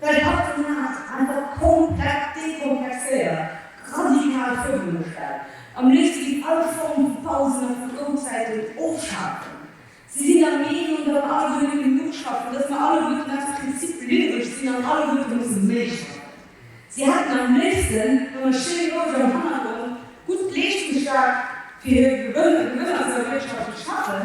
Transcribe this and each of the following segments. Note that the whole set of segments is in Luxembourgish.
Däi Partner ass einfach komplett dekomplexéiert, radikal virungestallt a mécht géint all Form vu Pausen a vu Frouzäiten ofschafen. Si sinn der Meenung, datt mer alleguer net genuch schaffen, datt mer alleguer aus Prinzip lieweg sinn an alleguer musse méi schaffen. Si hätten am léifsten, mat enger schéiner Gauge am Hannergrond, gutt leeschtungsstark, fir hir Gewënner ze erwirtschaften, schaffen.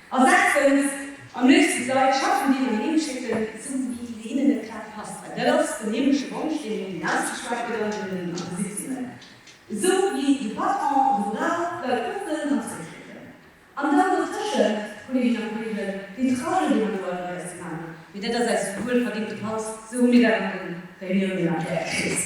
A sechstens, am léifsten d'Leit schaffen ginn an heemschécken, sou wéi se hinnen net grad passt. Well dat ass den heemleche Wonsch, deen een ausgeschwat gëtt an deenen an de Sitzungen, sou wéi de Patron e brauch, d'Leit ofhuelen an zréckschécken. An dann dotëschent, Kolleeginnen a Kolleegen, deen Trajet, dee mer do all Mount aus dem Haus, mee dat ass eis wuelverdéngte Paus, sou hu mir dat an de Reunioune mat där Kriss,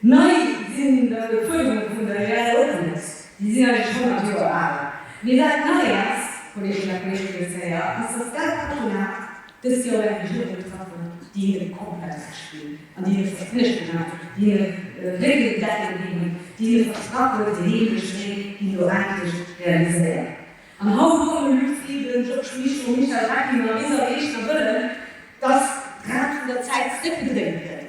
Nei sinn dann de Fuerderunge vun der Réal Openness, déi sinn eigentlech honnert Joer al. Mee dat Neies, Kolleeginnen a Kolleegen, dës Kéier ass, dass dat Patronat dëst Joer eng Regierung getraff huet, déi hinne komplett Recht ginn hunn an déi hinne Verspréchungen gemaach hunn, déi hinne Réckelen decken ginn hunn, déi hinne versprach huet, den heemleche Wee géing do endlech realiséiert. An haut kommen de Luc Frieden, Georges Mischo, Michel Reckinger, Lisa Wegner wëllen, dass d'Rad vun der Zäit zréckgedréint gëtt.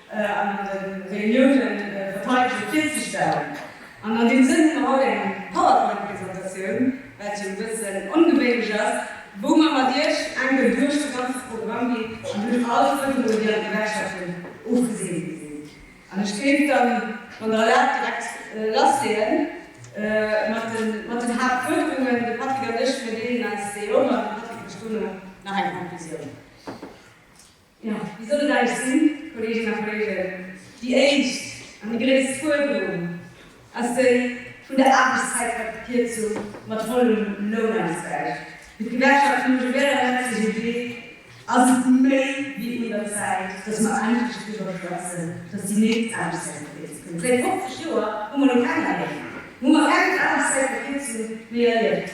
an de Reuniounen verteidege virzestellen. An an deem Sënn hu mer haut eng Powerpoint-Presentatioun, wat jo e bëssen ongewéinlech ass, wou mer mat Iech enken duerch de ganze Programm ginn an duerch all d'Fuerderungen, déi an d'Gewerkschaften ofgesinn gi sinn. An ech kéint dann, wann Der erlaabt, direkt lassleeën mat den Haaptfuerderungen. De Patrick an ech, mir deelen eis déi ëm an de Patrick mécht dono nach eng Conclusioun. Jo, déi soll et eigentlech sinn, Kolleeginnen a Kolleegen. Déi éischt an déi gréisst Fuerderung ass déi vun der Aarbechtszäitverkierzung mat vollem Lounausgläich. Fir d'Gewerkschaft vun de Gewerbler, d'CGT, ass et méi wéi un der Zäit, dass mer endlech driwwer schwätzen, dass déi nächst Aarbechtszäitverkierzung kënnt. Säit 50 Joer hu mer elo keng erlieft, hu mer keng Aarbechtszäitverkierzung méi erlieft.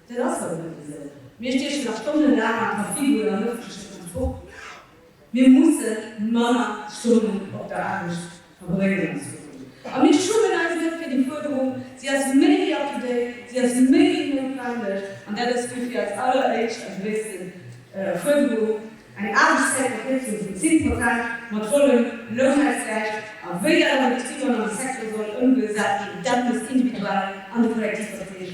Den ass hei net wisel. Mir stiechen da stonnelaang am Casino oder am ëffentlechen Transport. Mir musse manner Stonnen op der Aarbecht verbréngen als Fraen. A mir schummen eis net fir déi Fuerderung. Si ass méi wéi up-to-date, si ass méi wéi noutwendeg. An dat ass dofir eis alleréischt a gréisste Fuerderung, eng Aarbechtszäitverkierzung vun 10 Prozent mat vollem Lounausgläich. A wéi dat an de Betriber an am Secteur soll ëmgesat ginn, dat muss individuell an de Kollektivverträg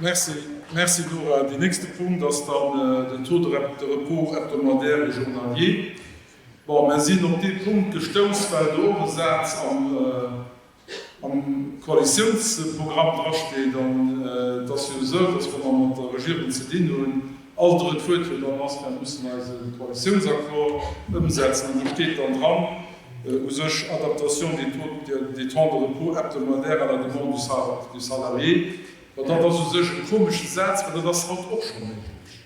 Merci, merci Nora. Deen nächste Punkt ass dann den Taux de repos hebdomadaire et journalier. Bon, mer sinn op dee Punkt gestouss, well do och e Saz am. am Koalitiounsprogramm drasteet an et ass jo esou, datt wa mer mat der Regierung ze dinn hunn, all drëtt Wuert jo dann ass, Mir mussen eise Koalitiounsaccord ëmsetzen. An do steet dann dran, u sech, Adaptation des taux des temps de repos hebdomadaires à la demande du salarié. Mä dat ass u sech e komesche Saz, well dat ass haut och scho méiglech.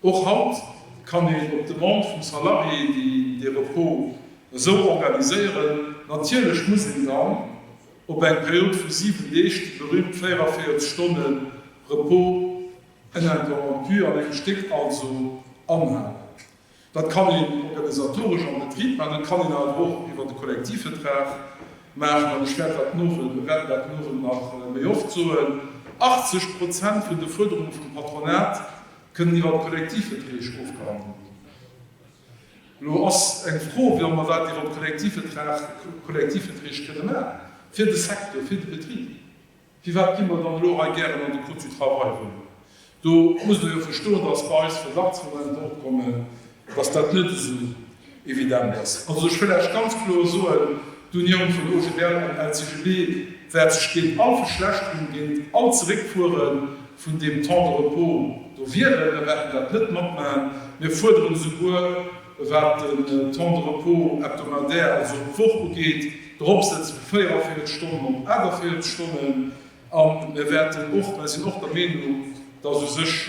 Och haut kann een op Demande vum Salarié déi dee Repos esou organiséieren. Natierlech muss een dann op eng Period vu 7 Deeg, déi berühmt 44 Stonne Repos uninterrompu an engem Stéck also, anhalen. Dat kann een organisatoresch am Betrib maachen, dat kann een awer och iwwert de Kollektivvertrag maachen. An ech wäert dat mueren, mir wäerten dat mueren nach méi oft soen, 80 Prozent vun de Fuerderunge vum Patronat Kënnen iwwer Kollektivverträg ofgehandelt ginn. Elo ass eng Fro, wéi all mer dat iwwer Kollektivvertrag, Kollektivverträg kënne maachen, fir de Secteur, fir de Betrib. Firwat gi mer dann elo hei gären an de Code du travail rëm? Do musst Der jo verstoen, dass bei eis Verdachtsmomenter opkommen, dass dat net esou evident ass. Also ech wëll lech ganz kloer soen, d'Unioun vun OGBL an LCGB wäert sech géint all Verschlechterung, géint all Zeréckfuere vun deem Temps de repos do wieren. Mer wäerten dat net matmaachen. Mir fuerderen esouguer, wat den Temps de repos hebdomadaire, also d'Woch ugeet, eropsetze vu 44 Stonnen op 48 Stonnen. An mir wäerten och, mä sinn och der Meenung, dass u sech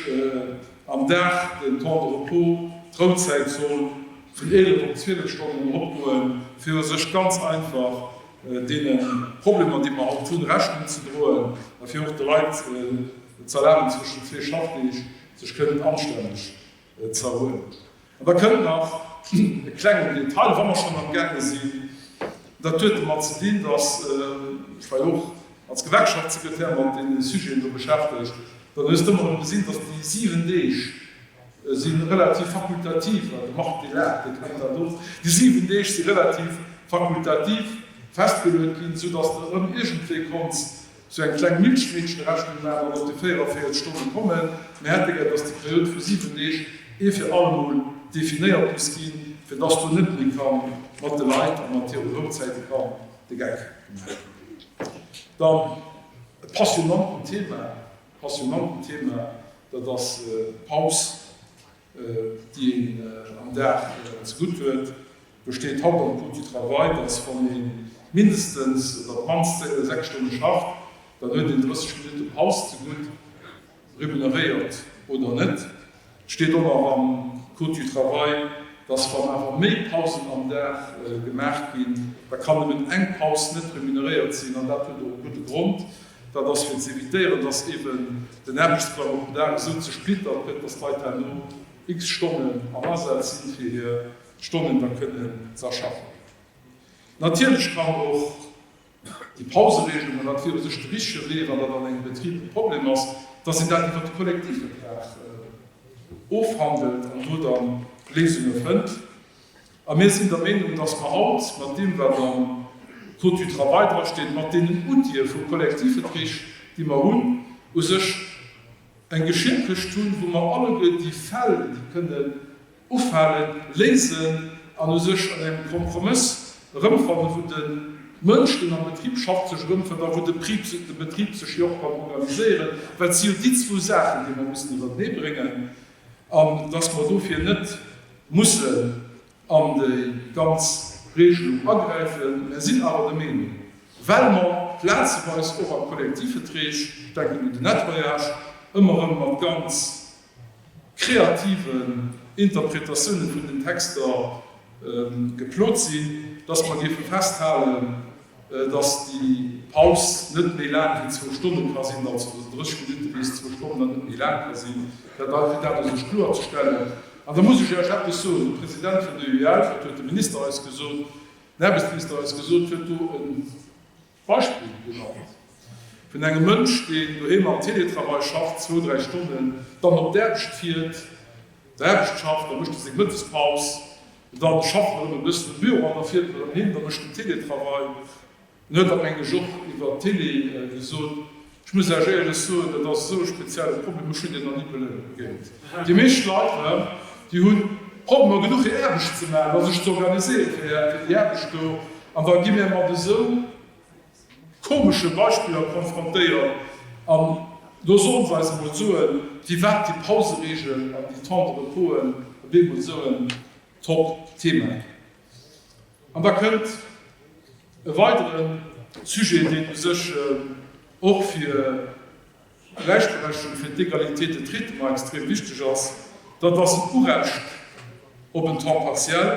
am Dag den Temps de repos, d'Rouzäit, soll vun 11 op 12 Stonnen eropgoen, fir u sech ganz einfach deene Problemer, déi mer haut hunn, Rechnung ze droen a fir och de Leit z'erlaben, zwëschen zwee Schaffdeeg sech kënnen anstänneg z'erhuelen. An da kënnt nach e klengen Detail, wa mer schonn amgaange sinn, dat huet domat ze dinn, datt ech war jo och als Gewerkschaftssekretär mat deene Sujeten do beschäftegt, dann hues de ëmmer erëm gesinn, datt déi 7 Deeg si relativ fakultativ, de Marc dee laacht, dee kennt dat och, déi 7 Deeg si relativ fakultativ festgeluet ginn, soudatt de erëm iergendwéi konns Sou eng kleng Milchmädchen-Rechnung war awer mat de 44 Stonne kommen. Mir hätte gär, dass déi Period vu 7 Deeg ee fir allemol definéiert muss ginn, fir dass do net méi ka mat de Leit a mat hire Brotzäite ka de Geck gemaach ginn. Dann e passionanten Thema, passionanten Thema, dat ass d'Paus. déi een am Dag ze gutt huet, besteet haut am Coût du travail, datt wann ee mindestens oder op d'mannst 6 Stonne schafft, dann huet een 30 Minutte Paus ze gutt, remuneréiert oder net. Et steet och nach am Code du travail, datt wann awer méi Pausen am Dag gemaach ginn, da kann nëmmen eng Paus net remuneréiert sinn, an dat huet och e gudde Grond, Dat ass fir ze evitéieren, dass eeben den Aarbechtsprogramm op den Dag esou zersplittert gëtt, dass d'Leit herno x Stonnen am Asaz sinn, fir hir Stonnen da kënnen ze erschaffen. Natierlech kann och déi Pauseregelungen, wat fir u sech de richtige Wee, wann dat an engem Betrib e Problem ass, dass een dat iwwert de Kollektivvertrag ofhandelt an do da Léisunge fënnt. A mir sinn der Meenung, dass mer haut mat deem, wat am Code du travail drasteet, mat deenen Outile vu Kollektivverträg, déi mer hunn, u sech eng Geschir Këscht hunn, wou mer alleguer déi Fäll, déi kënnen ufalen, léisen an u sech an engem Kompromëss erëmfannen, wou de Mënsch, deen am Betrib schafft, sech erëmfënnt a wou de Betrib sech jo och kann organiséieren, well et si jo déi zwou Saachen, déi mer mussen erëmbréngen. an dass mer dofir net mussen an déi ganz Regelung agräifen, mä sinn awer der Meenung, well mer plazeweis och am Kollektivvetreg, ech denken un de Nettoyage, ëmmer erëm mat ganz kreativen Interpretatiounen vun den Texter geplot sinn, dass mer géife festhalen, Dass déi Paus net méi laang wéi zwou Stonne ka sinn, also dass et 30 Minutte bis zwou Stonnen an net méi laang ka sinn, dat ass fir dat ass sech kloer ze stellen. An da muss ech Iech eppes soen, De President vun der UEL, wat huet de Minister eis gesot, den Aarbechtsminister eis gesot? huet do e Beispill genannt vun engem Mënsch, deen doheem am Teletravail schafft, zwou, dräi Stonnen, dann op d'Aarbecht fiert, D'Aarbecht schafft, da mécht e seng Mëttespaus, da schafft en erëm e bëssen um Büro an da fiert en erëm heem, da mécht en Télétravail. En huet der meng ech och iwwer d'Télé gesot. Ech muss lech éierlech soen, dat ass esou e spezielle Problem, ech hunn deen nach ni beléiere géint. Déi meescht Leit erëm, déi hu Problemer genuch hir Aarbecht ze maachen a sech ze organiséieren fir déi Aarbecht do an da gi mär mat esou. komesche Beispiller konfrontéiert an lo solle se eis emol soen, firwat déi Pauseregel an déi Temps de reposen op eemol esou en Top-Thema ginn. An da kënnt e weidere Sujet, deen u sech och fir. Gläichberechtigung fir d'Égalité de traitement extrem wichteg ass, dat ass en Urecht op en Temps partiel,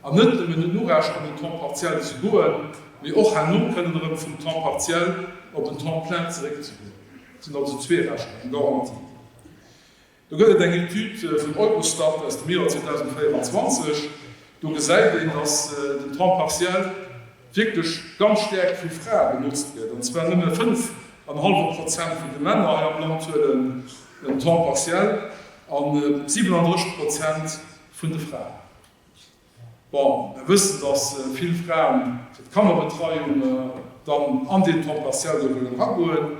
an net nëmmen en Urecht an den Temps partiel ze goen, mee och herno kënnen erëm vum Temps partiel op en Temps plein zeréckzegoen. Dat sinn also zwee Rechter, eng Garantie. Do gëtt et eng Etüd vum Eurostat aus dem Joer 2024. Do gesäit een, datt den Temps partiel wierklech ganz staark vu Frae benotzt gëtt, an zwar nëmme 5 an e hallwe Prozent vun de Männer hei am Land huelen en Temps partiel a 37 Prozent vun de Fraen. Bon, mer wëssen, datt vill Fraen fir d'Kannerbetreiung dann an deen Temps partiel do wëllen eragoen.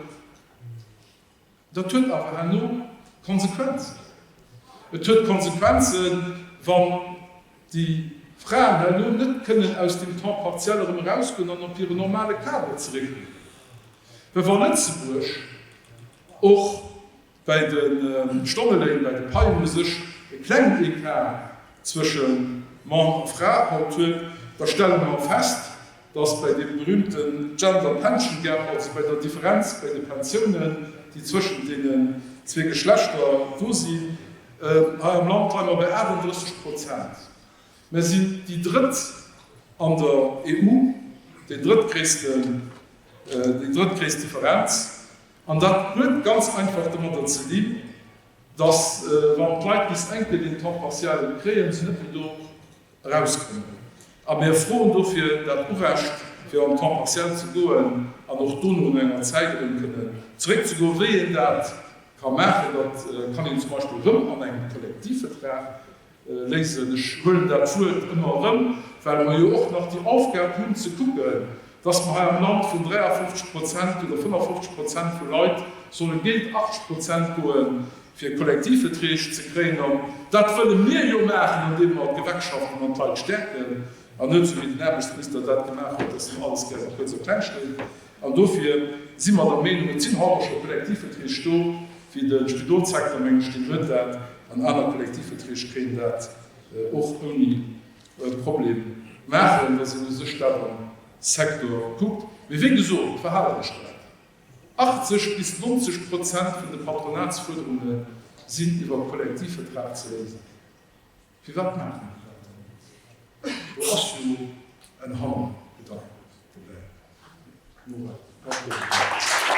Dat huet awer herno Konsequenzen. Et huet Konsequenzen, wann déi Fraen herno net kënnen aus dem Temps partiel erëm erausgoen an op hire normale Kader zeréckginn. Well wa Lëtzebuerg och bäi de Stonneléin, bäi de Paien u sech e klengen Ecart zwësche Mann a Fra haut huet, da stelle mer fest, dass bei deem berühmte Gender Pension Gap, also bei der Differenz bei de Pensiounen, déi zwëschent deenen zwee Geschlechter do sinn, hei am Land leie mer bei 38 Prozent. Mer sinn déi drëtt an der EU, déi drëttgréisst Differenz. An dat huet ganz einfach domadder ze dinn, dass wann d'Leit bis enke den Temps partiel kréien, se net méi do, Erauskommen. A mir froen dofir dat Urecht, fir en temps partiel ze goen an och dono no enger Zäit erëm kënnen zeréckzegoen. Wéi een dat ka maachen, dat kann een zum Beispill erëm an engem Kollektivvertrag léisen. Ech huelen dat Wuert ëmmer erëm, well mer jo och nach déi Aufgab hunn ze kucken, dass mer hei am Land vun 53 Prozent oder 55 Prozent vu Leit solle géint 80 Prozent goen, fir Kollektivveträg ze kréien an dat wëlle mir jo maachen, andeem mer d'Gewerkschaften an d'Leit stäerken an net esou wéi den Aarbechtsminister dat gemaach huet, datt hien alles gären kuerz a kleng schléit. An dofir si mer der Meenung, et sinn haut och scho Kollektivveträg do wéi de Spidolssektor, meng ech, deen huet dat an aner Kollektivveträg kéint dat och ouni Problem maachen, wa se u sech dat am Secteur kuckt. Mee wéi gesot, et war halet ech dat. 80 bis 90 Prozent vun de Patronatsfuerderunge sinn iwwer Kollektivvertrag ze léisen. Firwat maachen mir dat dann net? Do ass jo en Hannergedanken dobäi. Nora, wat hues de dozou?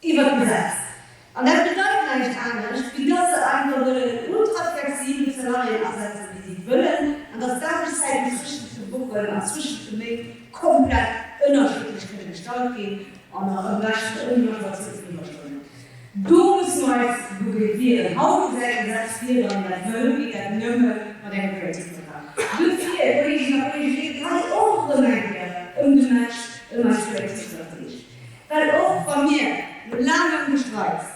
iwwert d'Gesetz. An dat bedeit näischt anescht, wéi dass se einfach nëmmen en ultraflexibelt Salarié asetzen, wéi si et wëllen, an dass d'Aarbechtszäiten zwëschent de Wochen an zwëschent de Méint komplett ënnerschiddlech kënne gestalt ginn, an nach am beschten ouni Majoratioun vun Iwwerstonnen. Do musse mer eis mobiliséieren. Haut ass dat Gesetz vir, wann een dat wëll, geet dat nëmme mat engem Kollektivvertrag. Duerfir, Kolleeginnen a Kolleegen, geet et hei och erëm eng Kéier ëm de Match, ëm eis Kollektivverträg. Well och wa mir no laangem Gestreits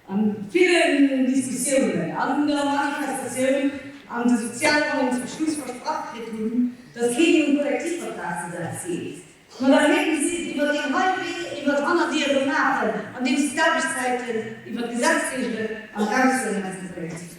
an villen Diskussiounen an der Manifestatioun an de Sozialronne zum Schluss versprach kritt hunn, datt keen um Kollektivvertrag ze setz geet, ma da héiere si et iwwert een hei Wee, iwwert Hannerdiere maachen, andeems se d'Aarbechtszäiten iwwert d'Gesetz regelen an eraushuelen aus dem Kollektivvertrag.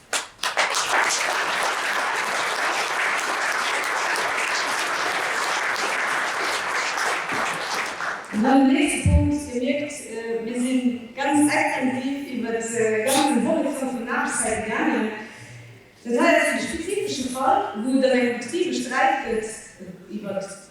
An dann den nächste Punkt. Dir mierkt, mir si ganz extensiv iwwert de ganzen Horizont vun Aarbechtszäite gaangen. Dat hei ass e spezifesche Fall, wou et an engem Betrib e Sträit gëtt iwwert.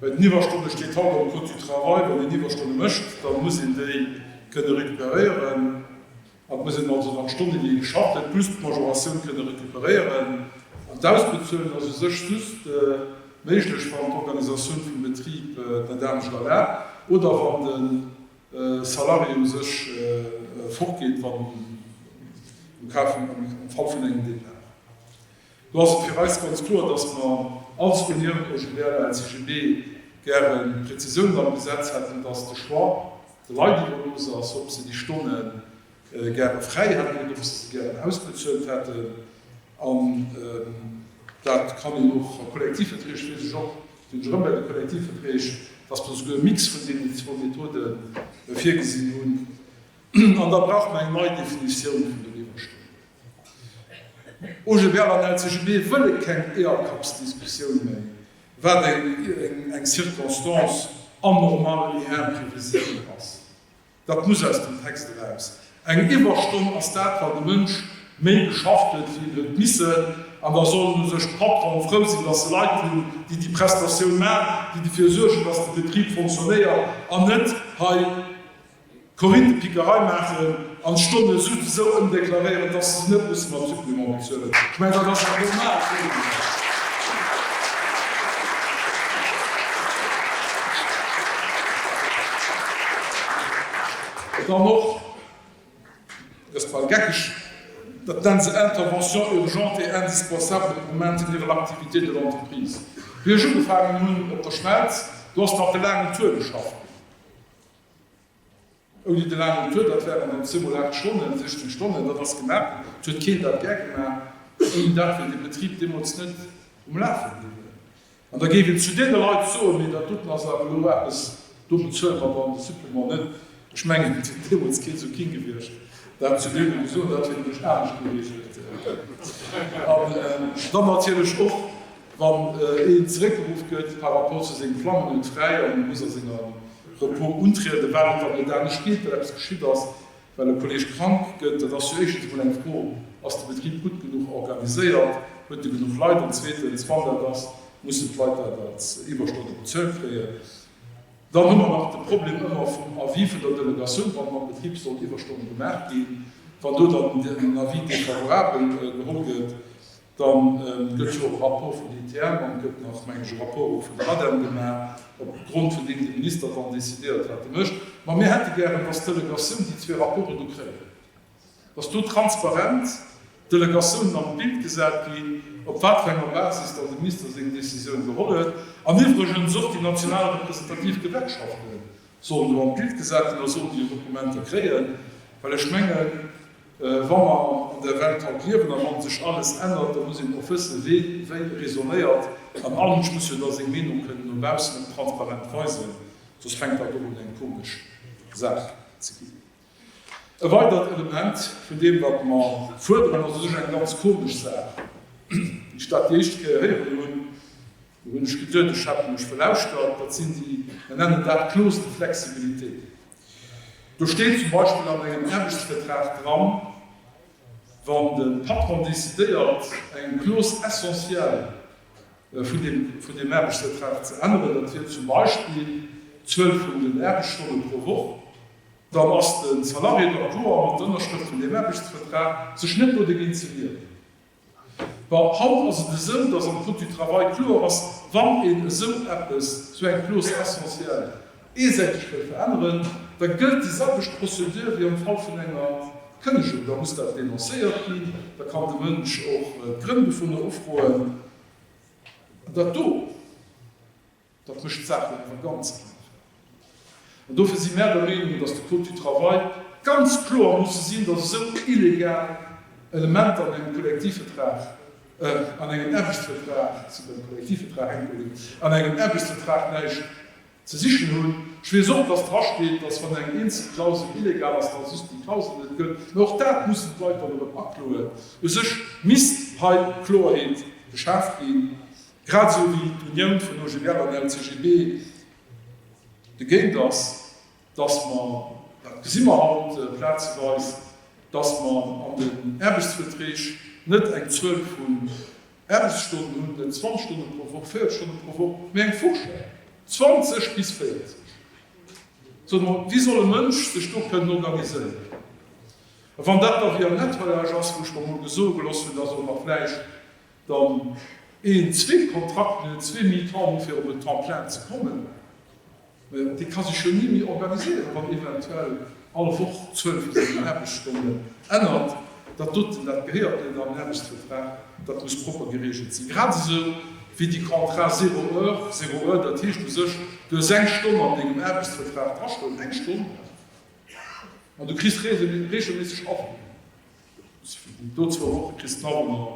Eng Iwwerstonne steet haut am Code du travail. Wann een Iwwerstonne mécht, da muss een déi kënne recuperéieren. Et muss een also nach Stonnen, déi ee geschafft huet, plus d'Majoratioun kënne recuperéieren. An d'Ausbezuelen ass u sech just méiglech, wann d'Organisatioun vum Betrib dat anescht erlaabt oder wann de Salarié u sech fortgeet, am Fall vun engem Depart. Do ass et fir eis ganz kloer, dass mer als Union pour Gilbert de la LCGB gäre Prezisiounen am Gesetz hätten, dass de Choix de Leit iwwerlooss ass, ob se déi Stonne gäre fräi hätten oder ob se se gären ausbezuelt hätten. An dat kann een och a Kollektivverträg, weess ech och, sinn ech erëm bei de Kollektivverträg, dass mer esouguer e Mix vun deenen zwou Methode virgesinn hunn. An da brauche mer eng nei Definitioun vun den Iwwerstonnen. OGBL an LCGB wëlle keng Eeërkappsdiskussioun méi, wat eng Circonstance anormale et imprévisible ass. Dat muss aus dem Text eraus. Eng Iwwerstonn ass dat, wann de Mënsch méi geschafft huet, wéi en huet missen. An da sollen u sech d'Patronen frou sinn, datt se Leit hunn, déi déi Prestatioun maachen, déi derfir suergen, datt de Betrib fonctionnéiert an net hei, Corinne, d'Pickerei maachen an d'Stonne sou ëmdeklaréieren, dass se se net musse mam Supplément bezuelen. Ech mengen, dat ass awer normal, oder net? Dann och, dat ass bal geckeg, dat nennen se Intervention urgente et indispensable pour maintenir l'activité de l'entreprise. Wéi ech ugefaangen hunn op der Schmelz, do ass nach de laangen Tour geschafft ginn. Ouni de laangen Tour, dat waren dann zweemol 8 Stonnen, 16 Stonnen, dat ass gemaach ginn. Et huet keen dat gär gemaach. Ouni dat wier de Betrib deemools net um Lafe bliwwen. An da géif een zu deene Leit soen, mee dat doten ass awer elo eppes, do bezuele mer dann de Supplement net. Ech mengen, et wier deemools kee sou king gewiescht, dat zu deene ze soen. Dat wier nämlech anescht geregelt. An dann natierlech och Wann een zeréckgeruff gëtt par rapport zu sengem Flammen huet fräi an e muss a senger Repos untrieden. Wat et dann huet anescht geet, well eppes geschitt ass, well e Kolleeg krank gëtt, dat ass jo éischtens mol eng Fro, ass de Betrib gutt genuch organiséiert, huet e genuch Leit an zweetens, wann dat ass, mussen d'Leit dat als Iwwerstonne bezuelt kréien. Dann hu mer nach de Problem ëmmer vum Avis vun der Delegatioun, wann mam Betrib sollen Iwwerstonne gemaach ginn, wann do dann en Avis défavorable geholl gëtt. Dann gëtt jo och Rapport vun ITM an et gëtt nach, mengen ech, e Rapport och vun der ADEM gemaach, op Grond vun deem de Minister dann décidéiert, wat e mécht. Mä mir hätte gären, dass d'Delegatioun déi zwee Rapporte do kréien, dass do transparent d'Delegatiounen an d'Bild gesat ginn, op wat fir enger Basis dann de Minister seng Décisioun geholl huet. An iwwregens och déi national representativ Gewerkschafte sollen do an d'Bild gesat ginn a sollen déi Dokumenter kréien, well ech mengen, Wa mer an der Welt haut liewen, am Land sech alles ännert, da muss een och wëssen, wien wéi raisonnéiert. An all Mënsch muss jo da seng Meenung kënnen no baussen op transparent weisen, soss fänkt dat och un eng komesch Saach ze ginn. E weidert Element vun deem wat mer fuerderen, ass u sech eng ganz komesch Saach, déi ech dat déi éischt Kéier héieren hunn, Do hunn ech geduet, ech hat mech verlauschtert, dat sinn déi, mer nennen dat d'Clause de flexibilité. Do steet zum Beispill an engem Aarbechtsvertrag dran, wann de Patron decidéiert eng Clause essentielle vun deem, vun deem Aarbechtsvertrag ze änneren, dat wier zum Beispill d'Zuel vun den Aarbechtsstonne pro Woch, dann ass de Salarié d'accord mat der Ënnerschrëft vun deem Aarbechtsvertrag, sech net do dergéint ze wieren. Bon, haut ass et esou, datt am Code du travail kloer ass, wann een esou eppes, esou eng Clause essentielle eesäiteg wëll veränneren, da gëllt déi selwecht Procédure wéi am Fall vun enger Kënnegung. Da muss dat denoncéiert ginn, da kann de Mënsch och d'Grënn dovunner ufroen. Dat do. Dat mécht d'Saachen awer ganz einfach. An dofir si mär der Meenung, datt de Code du travail ganz kloer musse sinn, datt esou illegal Elementer an engem Kollektivvertrag, an engem Aarbechtsvertrag, et sinn dann Kollektivverträg, Entschuldigung, an engem Aarbechtsvertrag näischt ze sichen hunn. Ech weess och, datt dra steet, datt wann eng eenzel Klausel illegal ass, datt just déi Klausel net gëllt. Mä och dat mussen d'Leit dann erëm akloen. U sech misst hei Kloerheet geschaaft ginn. Grad esou wéi d'Unioun vun OGBL an LCGB dogéint ass, datt mer, dat gesi mer haut plazeweis, datt mer an den Aarbechtsverträg net eng Zuel vun Aarbechtsstonnen hunn, net 20 Stonne pro Woch, 40 Stonne pro Woch, mee eng Fourchette, 20 bis 40. Soe mer, wéi soll e Mënsch sech do kënnen organiséieren? A wann dat da via Nettoyage ass, wou ech mer emol gesoe gelooss hunn, datt och nach vläicht, Dann een zwee Kontrakten, en zwee mi-temps hunn, fir op en temps plein ze kommen, mä dee ka sech jo ni méi organiséieren, wann eventuell all Woch d'Zuel vun sengen Aarbechtsstonnen ännert. Dat doten, dat gehéiert net an en Aarbechtsvertrag, dat muss propper geregelt sinn, grad esou wéi déi Contrats zéro heure, zéro heure, dat heescht u sech, du hues eng Stonn an dengem Aarbechtsvertrag drastoen, eng Stonn, mä du kriss regelméisseg Averden. Do zwou Woche kriss d'Mamm ëmmer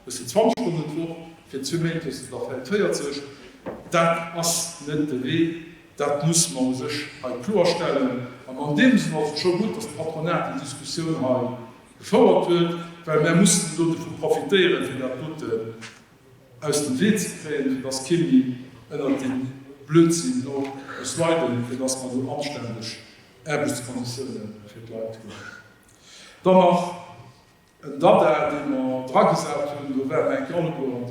bëssen 20 Stonnen d'Woch, fir zwee Méint hues de der vläit 40. Dat ass net de Wee, dat muss mer u sech hei kloerstellen. An an deem Sënn ass et scho gutt, datt d'Patronat déi Diskussioun hei gefouert huet, well mär mussen elo dovu profitéieren, fir dat doten aus dem Wee ze kréien, fir datt kee méi ënnert deem Blödsinn do muss leiden, fir datt mer do anständeg Aarbechtskonditioune fir d'Leit hunn. Dann nach en Dada, dee mer dragesat hunn, do war mer enke alleguer an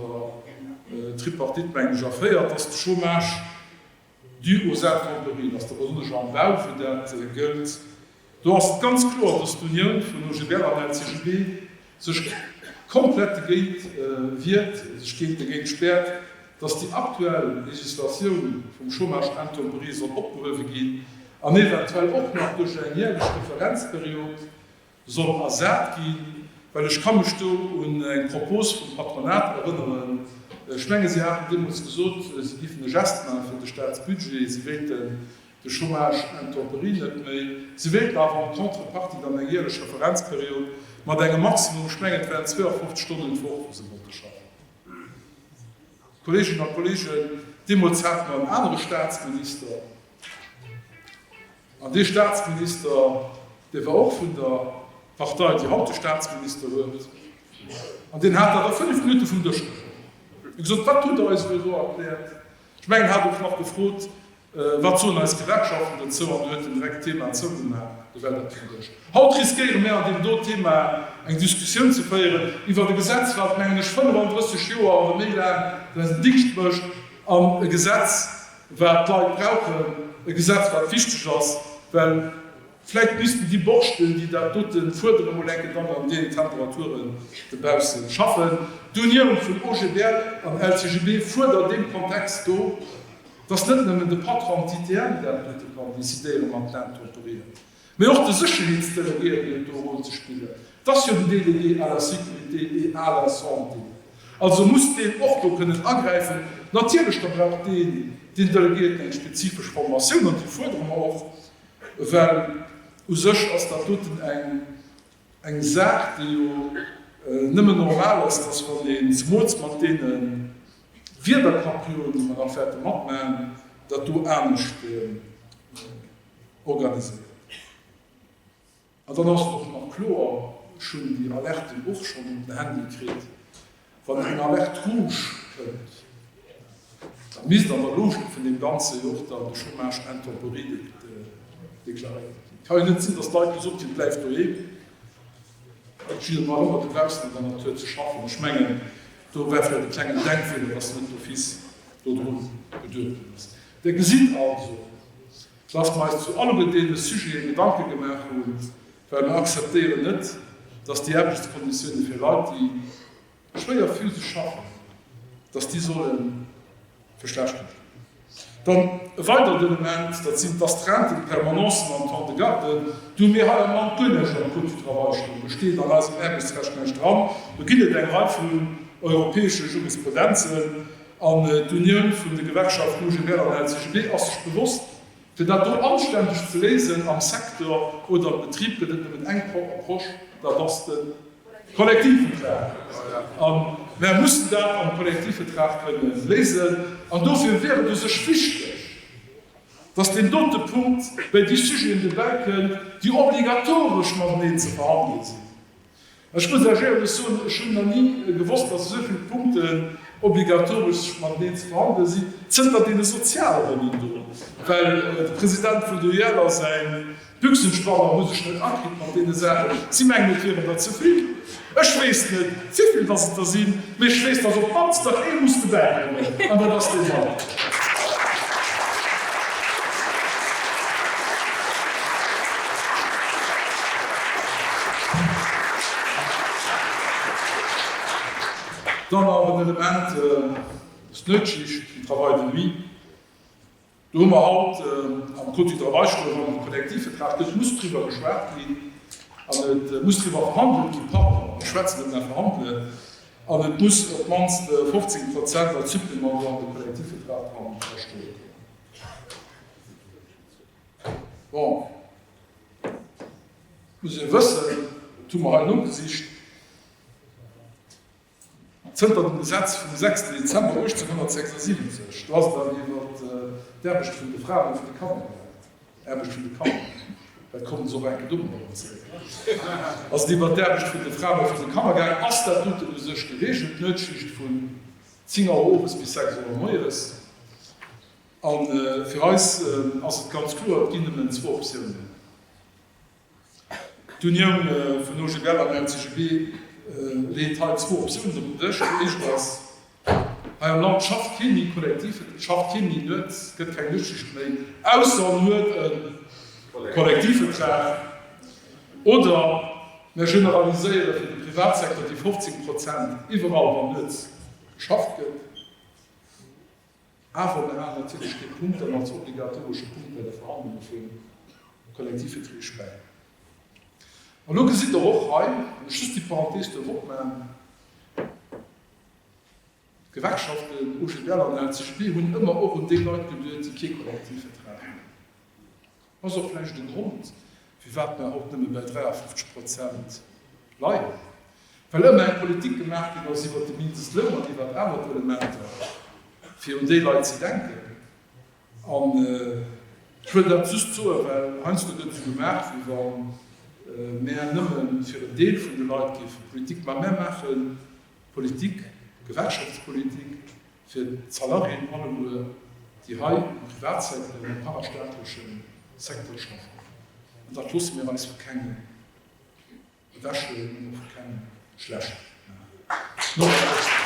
der Tripartite, mengen ech, erféiert, dass de Chômage dû aux Intempéries, dass der besonnesch am Bau, wou dat gëllt, do ass et ganz kloer, dass d'Unioun vun OGBL an LCGB sech komplett dogéint wiert, sech géint dogéint späert, dass déi aktuell Législatioun vum Chômage intempérieux soll opgehuewe ginn. an eventuell och nach duerch eng jährlech Referenzperiod soll ersat ginn, well ech ka mech do un eng Propos vum Patronat erënneren, ech menge si haten deemools gesot, si géifen e Gest maache fir de Staatsbudget, si wéilten de Chômage intemperi net méi, si wéilten awer en contrepartie dann eng jährlech Referenzperiod mat engem Maximum, ech menge et waren 52 Stonnen d'Woch, wou se wollte schaffen. Kolleeginnen a Kolleegen, deemools hate mer en anere Staatsminister. An dee Staatsminister, dee war och vun der Partei, déi haut de Staatsminister huet, an deen hat dat a fënnef Minutte vum Dësch geholl. Hie huet gesot, Wat hutt Der eis elo do erkläert? Ech mengen, hat och nach gefrot, Wat soen eis Gewerkschaften dozou? An huet en direkt d'Thema zougemaach, da war dat vum Dësch. Haut riskéiere mir an deem do Thema eng Diskussioun ze féieren iwwert e Gesetz, wat, mengen ech, 35 Joer oder méi laang säin Dingscht mécht an e Gesetz Wat d'Leit brauchen, e Gesetz wat wichteg ass, well vläit missten déi Borschten, déi dat dote fuerderen, mol enke dann an deenen Temperaturen dobausse schaffen. D'Unioun vun OGBL an LCGB fuerdert an deem Kontext do, datt net nëmmen de Patron d'ITM dat dote kann decidéieren, mat Länn kooperieren. Mee och de Sécherheetsdeleguéierte huet do e Rôle ze spillen. Et ass jo den Délégué à la sécurité et à la santé. Also muss deen och do kënnen agräifen. Natierlech, da brauch deen, deen Deleguéierten eng spezifesch Formatioun, an déi fuerdere mer och, well u sech ass dat doten eng Saach, déi jo nëmmen normal ass, dass wann een, zemools mat deene Wiederkaprioen, déi mer nach wäerte matmachen, dat do anescht. organiséiert ginn. An dann ass et och nach kloer, ech hunn déi Alerten och schonn op den Handy kritt, wann eng Alerte rouge kënnt, da misst an der Logik vun deem Ganzen jo och dann de Chômage intemporier deklaréiert ginn. Et ka jo net sinn, dass d'Leit gesot ginn, bleift doheem, jiddereen, war ëmmer dobaussen an der Natur ze schaffen. Ech mengen, do war vläicht e klengen Denkfeeler, dass net d'office dodrun geduecht ginn ass. Dir gesitt also, dass mer eis zu allem deene Sujete Gedanke gemaach hunn, well mer akzeptéieren net, dass déi Aarbechtskonditioune fir Leit, déi schwéier physesch schaffen, dass déi solle verschlechtert ginn. Dann e weideren Element, dat sinn d'Astreinten, d'Permanencen an d'Temps de garde. Do hu mir hei am Land guer näischt am Code du travail stoen, do steet an eisem Aarbechtsrecht näischt dran. Do ginn et eng Rei vun europäesche Jurisprudenzen. An d'Unioun vun de Gewerkschaften UGBL an LCGB ass sech bewosst, fir dat do anständeg ze léisen am Secteur oder am Betrib gëtt et nëmmen eng Approche, dat ass de Kollektivvertrag. A mär mussen dat am Kollektivvertrag kënne léisen. An dofir wier et u sech wichteg, datt deen dote Punkt bei déi Sujeten dobäi kënnt, déi obligatoresch mateneen ze verhandelen sinn. Ech muss lech éierlech soen, ech hunn nach ni gewosst, dass esou vill Punkten obligatoresch mateneen ze behandelen sinn, zënter deene Sozialronnen do, well de President vun der UEL a säin Büchsenspanner hu sech net akritt mat deene Saachen. Si mengen, et wieren der ze vill. Ech weess net, wéi vill dass et der sinn. Mee ech weess, dass op d'mannst nach ee muss dobäikommen, an dat ass dee Mike. Dann nach en Element, D'Nuetschicht, le travail de nuit. Do hu mer haut am Code du travail scho erëm e Kollektivvertrag, do muss driwwer geschwat ginn an et muss driwwer verhandelt ginn, pardon, ech schwätzen net, mä verhandelen, an et muss op d'mannst 15 Prozent als Supplément do an de Kollektivvertrag dran stoe kommen. Bon, et muss ee wëssen, et hu mer hei nogesicht, Zënter dem Gesetz vum 6 Dezember 1876, do ass dann iwwer d'Aarbecht vun de Fraen a vun de Kanner gereet, Aarbecht vun de Kanner, dat kommt ons och enke do nach emol zeréck, ass et iwwer d'Aarbecht vun de Fraen a vun de Kanner gaangen, ass dat doten u sech gereegelt, d'Nuetsschicht vun 10 Auer owes bis 6 Auer moies. A fir eis ass et ganz kloer, et ginn nëmmen zwou Optiounen. D'Unioun vun OGBL an der CGB leet hei zwou Optiounen op den Dësch. Déi éischt ass, Hei am Land schafft kee méi kollektiv, et schafft kee méi net, et gëtt keng Lëschteger méi, ausser en huet e Kollektivvertrag. Oder mär generaliséiere fir de Privatsecteur déi 15 Prozent iwwerall, wann net geschafft gëtt. Awer mer halen natierlech déi Punkten als obligatoresch Punkt bei de Verhandlunge vum Kollektivvertree späi. An elo gesitt Der och hei, wann ech just déi Parenthese duerf opmachen, d'Gewerkschaften, OGBL an LCGB, hunn ëmmer och un déi Leit geduet, déi kee Kollektivvertrag hunn. Ass och vläicht e Grond, firwat mer haut nëmme bei 53 Prozent leien, well ëmmer eng Politik gemaach ginn ass iwwert de Mindestloun an iwwert aner Elementer, fir un déi Leit ze denken. An ech wëll dat just soen, well heiansdo gëtt esou gemaach, wéi wa mär nëmme fir en Deel vun de Leit géife Politik maachen. Mä mär maache Politik, Gewerkschaftspolitik, Fir d'Salariéen alleguer, déi hei am Privatsecteur an am parastaatleche Secteur schaffen. An dat loosse mir eis vu kengem ewechhuelen an och vu kengem schlecht maachen.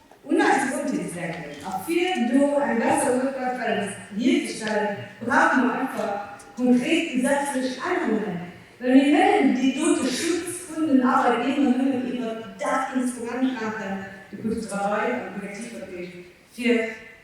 Un eis Gesondheet denken a fir do eng besser Work-Life-Balance hierzestellen, brauche mer einfach konkret gesetzlech Ännerungen, well mir kënnen dee dote Schutz vun den Arbeitnehmer nëmmen iwwert dat Instrument maachen, de Code du travail an d'Kollektivverträg, fir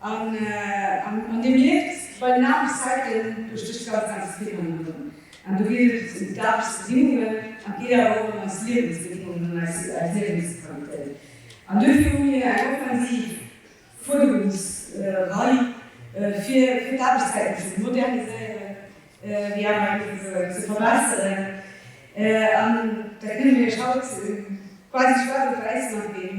An Dir mierkt, bei den Aarbechtszeiten, do stécht ganz, ganz vill hannendrun. An do geet et ëm d'Aarbechtsbedingungen, an et geet awer och ëm eis Liewensbedingungen an eis Liewensqualitéit. An duerfir hu mir eng offensiv Fuerderungsrei, fir d'Aarbechtszeiten ze moderniséieren, déi awer eng Kéier souguer ze verbesseren. An da kënnen mir Iech haut quasi schwaarz op wäiss mat deem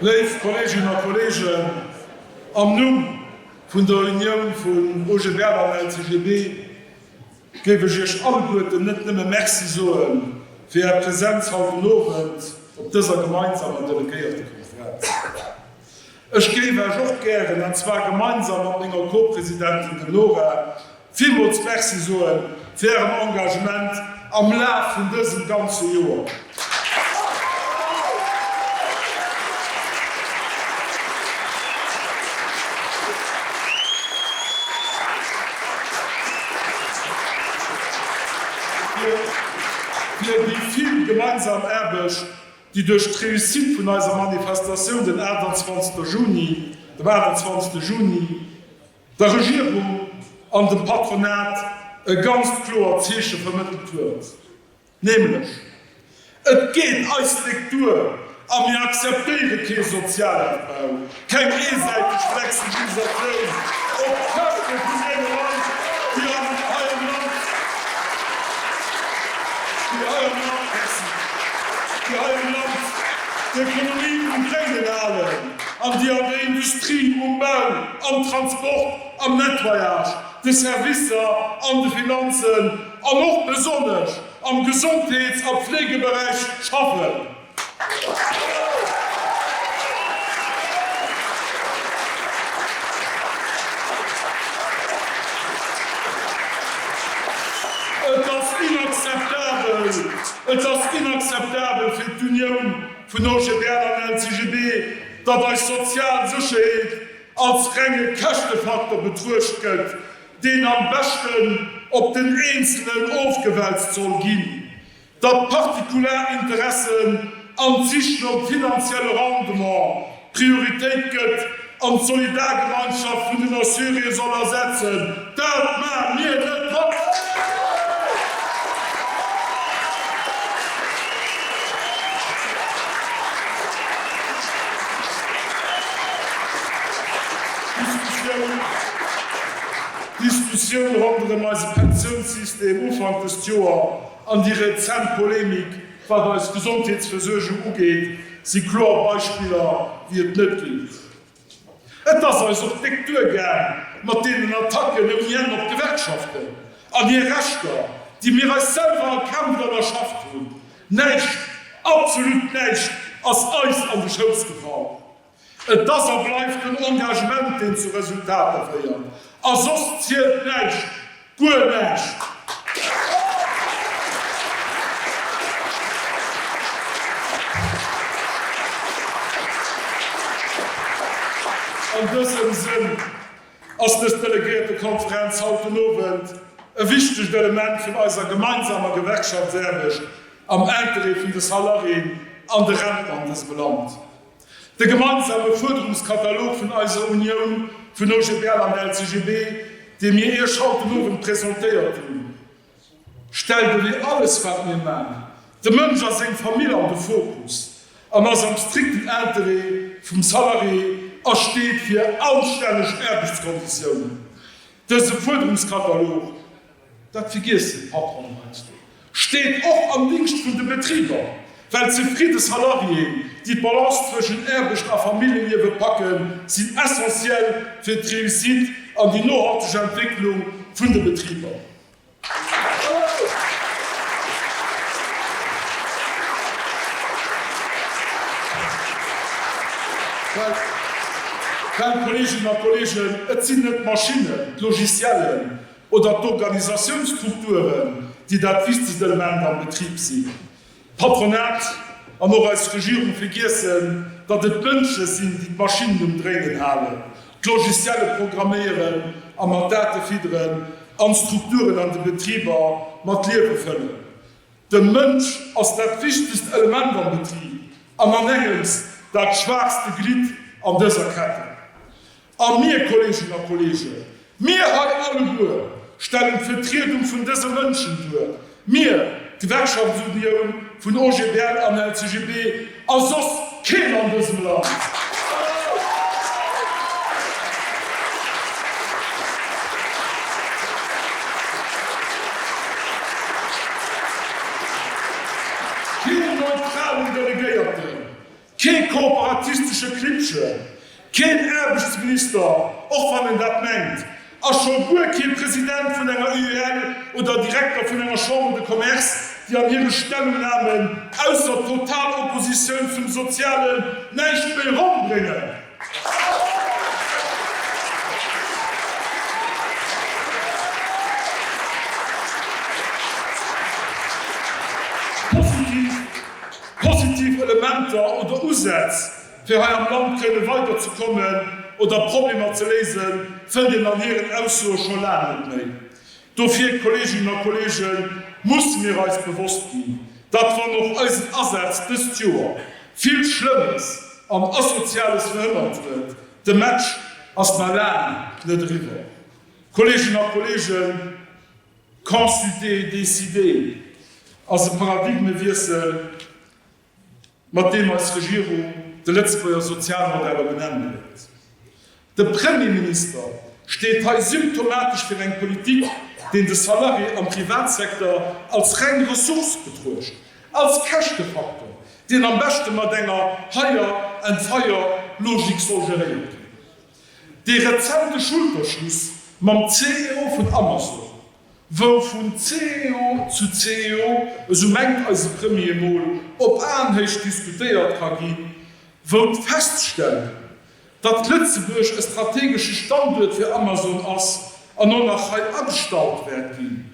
Léif Kolleeginnen a Kolleegen, am Numm vun der Unioun vun OGBL an LCGB géif ech Iech alleguerten net nëmme Merci soe fir Är Präsenz haut den Owend op dëser gemeinsamer Delegéiertekonferenz. Ech géif Eech och gären, an zwar gemeinsam mat menger Co-Presidentin, dem Nora, villmools Merci soe fir Ären Engagement am Laf vun dësem ganze Joer. Fir déi vill gemeinsam Aarbecht déi duerch d'Réussite vun eiser Manifestatioun den 28 Juni, dem 28 Juni, der Regierung an dem Patronat e ganzt kloert Zeeche vermëttelt huet, nämlech, Et geet eis d'Déck duer a mir akzeptéiere kee Sozialabbau. Keng eesäiteg Flexibilisatioun op d'Käschte vun deene Leit, déi an eierem Land d'Ekonomie um Dréinen halen an déi an der Industrie, um Bau, am Transport, am Nettoyage, de Servicer, an de Finanzen an och besonnesch am Gesondheets a Pflegeberäich schaffen. Et ass inakzeptabel! Et ass inakzeptabel fir d'Unioun vun OGBL an LCGB, datt eis sozial Sécherheet als renge Käschtefaktor betruecht gëtt, deen am beschten op den Eenzelen ofgewälzt soll ginn. datt partikular Interessen an d'Sich nom finanzielle Rendement Prioritéit gëtt an d'Solidargemeinschaft vun den Assuréë soll ersetzen. Dat maache mir net mat! D'Diskussioun ronderëm eise Pensiounssystem Ufank dëst Joer An déi rezent Polemik wat eis Gesondheetsversuergung ugeet, si kloer Beispiller wéi et net ginn huet. Et ass eis op d'Réck duergaang mat deenen Attacken ouni Enn op d'Gewerkschaften an hir Rechter, déi mir eis selwer erkämpft an erschafft hunn. Näischt, absolut näischt ass eis an de Schouss gefall. Et ass a bleift den Engagement, deen zu Resultater féiert. A soss zielt näischt, guer näischt! An dësem Sënn ass dës Delegéiertekonferenz haut den Owend e wichtegt Element vun eiser gemeinsamer Gewerkschaftsaarbecht am Interêt vun de Salariéen an de Renten an dësem Land. De gemeinsame Fuerderungskatalog vun eiser Unioun vun OGBL an LCGB, dee mir Iech haut den Owend presentéiert hunn, stellt ewéi alles wat mir maachen, de Mënsch a seng Famill an de Fokus an ass am strikten Interêt vum Salarié a steet fir anstänneg Aarbechtskonditiounen. Dëse Fuerderungskatalog. Dat vergiesst de Patron heiansdo. Steet och am Dingscht vun de Betriber, well zefridde Salariéen, déi d'Balance zwëschen Aarbecht a Familljeliewe packen, sinn essentiel fir d'Réussite an déi nohalteg Entwécklung vun de Betriber. Well, Kolleeginnen a Kolleegen, et sinn net d'Maschinnen, d'Logiciellen, Oder d'Organisatiounsstrukturen, déi dat wichtegst Element am Betrib sinn. D'Patronat an och eis Regierung vergiessen, datt et d'Mënsche sinn, déi d'Maschinnen um Dréinen halen, d'Logicielle programméieren a mat Date fidderen an d'Strukturen an de Betriber mat Liewe fëllen. De Mënsch ass dat wichtegst Element am Betrib an anengems dat schwaachste Glidd an dëser Ketten. A mir, Kolleeginnen a Kolleegen, mir hei alleguer stellen d'Vetriedung vun dëse Mënschen duer, mir, d'Gewerkschaftsunioun vun OGBL an LCGB, a soss keen an dësem Land. Keen neutralen Delegéierten. Kee kooperatistesche Klippchen, keen Aarbechtsminister, och wann en dat mengt, a scho guer kee President vun enger UEL oder Direkter vun enger Chambre de Commerce, déi an hire Stellungnamen ausser total Oppositioun zum Sozialen näischt méi ronn bréngen. Positiv. Positiv Elementer oder Usätz, fir hei am Land kënne weider ze kommen oder Problemer ze léisen, fënnt een an hiren Aussoe scho laang net méi. Dofir, Kolleeginnen a Kolleegen, musse mir eis bewosst ginn, datt wann och eisen Asaz dëst Joer vill Schlëmmes an Asoziales verhënnert huet, de Match ass nach laang net eriwwer. Kolleeginnen a Kolleegen. Consulter, décider ass e Paradigmewiessel, mat deem eis Regierung de Lëtzebuerger Sozialmodell op en Enn bréngt. De Premierminister steet hei symptomatesch fir eng Politik, deen de Salarié am Privatsecteur als reng Ressource betruecht, als Käschtefaktor, deen am beschte mat enger Hire-and-fire-Logik soll geréiert ginn. Dee rezente Schulterschluss mam CEO vun Amazon, wou vun CEO zu CEO, esou mengt eise Premier, mol op Aenhéicht diskutéiert ka gi wou d'Feststellung, datt Lëtzebuerg e strategesche Standuert fir Amazon ass an och nach hei agestallt wäert ginn,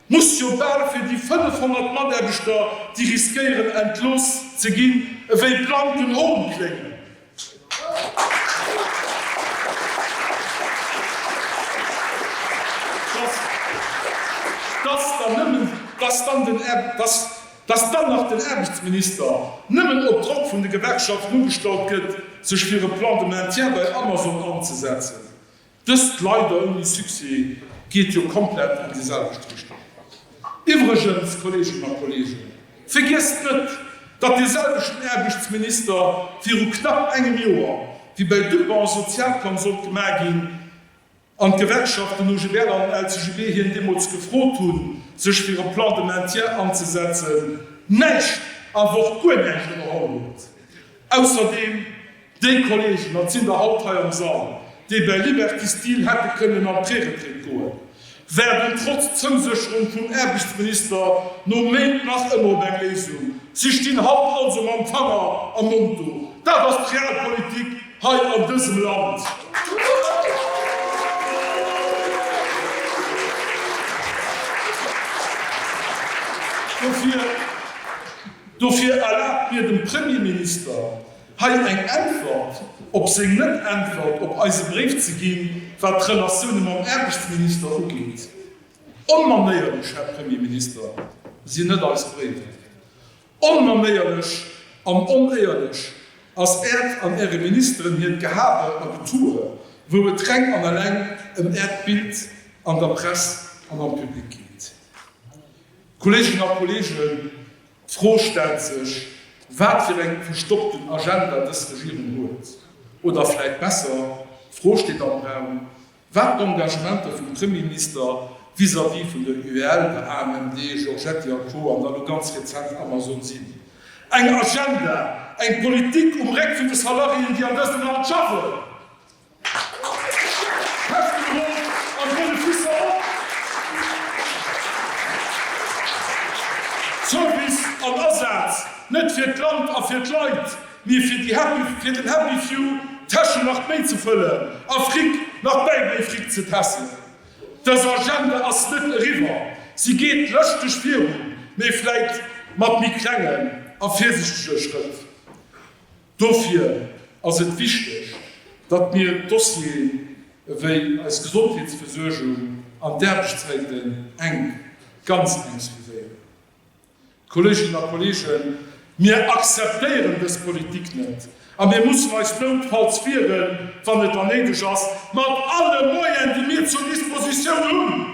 muss jo bal fir déi 500 Mataarbechter, déi riskéieren entlooss ze ginn, ewéi blanken Hohn kléngen. Dass dann nach den Aarbechtsminister, nëmmen op Drock vun de Gewerkschaften, ugestallt gëtt, sech fir e Plan de maintien bei Amazon anzesetzen, Dëst leider ouni Succès geet jo komplett an déi selwecht Richtung. Iwwregens, Kolleeginnen a Kolleegen, vergiesst net, datt dee selwechten Aarbechtsminister viru knapp engem Joer, wéi bei Dupper e Sozialplang sollt gemaach ginn an d'Gewerkschaften OGBL an LCGB hien deemools gefrot hunn, sech fir e Plan de maintien anzesetzen, näischt, a Wort guer näischt ënnerholl huet. Ausserdeem. Déi Kolleegen, dat sinn der haut hei am Sall, déi bei Liberty Steel hätte kënnen an d'Preretraite goen, waarden trotz Zousécherung vum Aarbechtsminister no Méint nach ëmmer op eng Léisung. Si stinn haut also mam Fanger am Mond do. Dat ass d'Realpolitik hei an dësem Land. Dofir erlaabt mir dem Premierminister, Hei eng Äntwert op seng Net-Äntwert op eise Bréif ze ginn, wat d'Relatioune mam Aarbechtsminister ugeet. Onmanéierlech, Här Premier Minister, sinn net eis Bréiwer. Onmanéierlech an onéierlech ass Äert an Äre Ministeren hiert Gehabe a Getue, wou et reng an alleng ëm Äert Bild an der Press an am Public geet. Kolleeginnen a Kolleegen, D'Fro stellt sech, wat fir eng verstoppten Agenda dës Regierung huet. Oder vläit besser, d'Fro steet am Raum, wat d'Engagementer vum Premierminister vis-à-vis vun der UEL, der AMMD, Georgetti a Co. An dann elo ganz rezent Amazon sinn. Eng Agenda, eng Politik um Réck vun de Salariéen, déi an dësem Land schaffen! Service an Asaz, net fir d'Land a fir d'Leit, mee fir déi Happy, fir den Happy Few d'Täschen nach méi ze fëllen a Fric nach méi méi Fric ze tässen. Dës Agenda ass net eriwwer, si geet lëschteg virun, mee vläit mat méi klengen a virsichtege Schrëtt. Dofir ass et wichteg, datt mir Dossieren ewéi eis Gesondheetsversuergung an d'Aarbechtsreegelen enk, ganz enk suivéieren. Kolleeginnen a Kolleegen, mir akzeptéieren dës Politik net a mir mussen eis noutfalls wieren, wann et dann néideg ass, mat alle Moyen, déi mir zur Dispositioun hunn.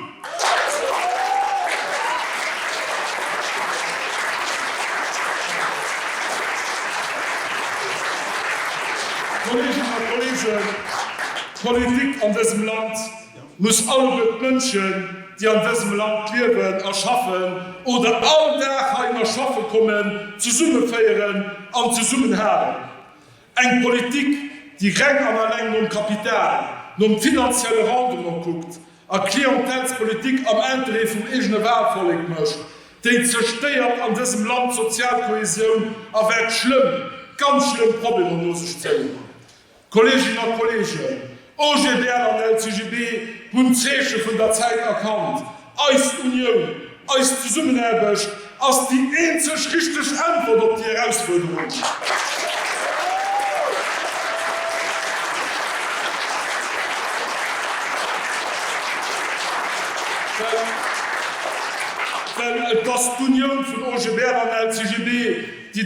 Kolleeginnen a Kolleegen, d'Politik an dësem Land muss alleguer d'Mënschen, déi an dësem Land liewen a schaffen oder all Dag heihinner schaffe kommen, zesummeféieren an zesummenhalen. Eng Politik, déi reng an alleng nom Kapital, nom finanzielle Rendement kuckt a Klientelspolitik am Interêt vum eegene Walvollek mécht, déi zerstéiert an dësem Land d'sozial Kohäsioun a wäert schlëmm, ganz schlëmm Problemer no sech zéien. Kolleeginnen a Kolleegen, OGBL an LCGB hunn d'Zeeche vun der Zäit erkannt. Eis Unioun, eis Zesummenaarbecht ass déi eenzeg richteg Äntwert op déi Erausfuerderung. Well et ass d'Unioun vun OGBL an LCGB, déi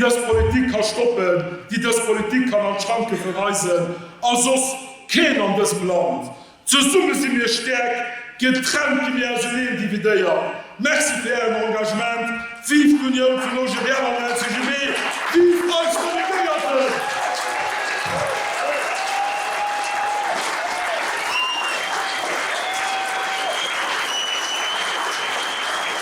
dës Politik ka stoppen, déi dës Politik kann an d'Schranke verweisen, a soss keen an dësem Land. Zesumme si mir stäerk, getrennt gi mir auseneen dividéiert. Merci fir ären Engagement. Vive d'Unioun vun OGBL an LCGB! Vive eis Delegéierten!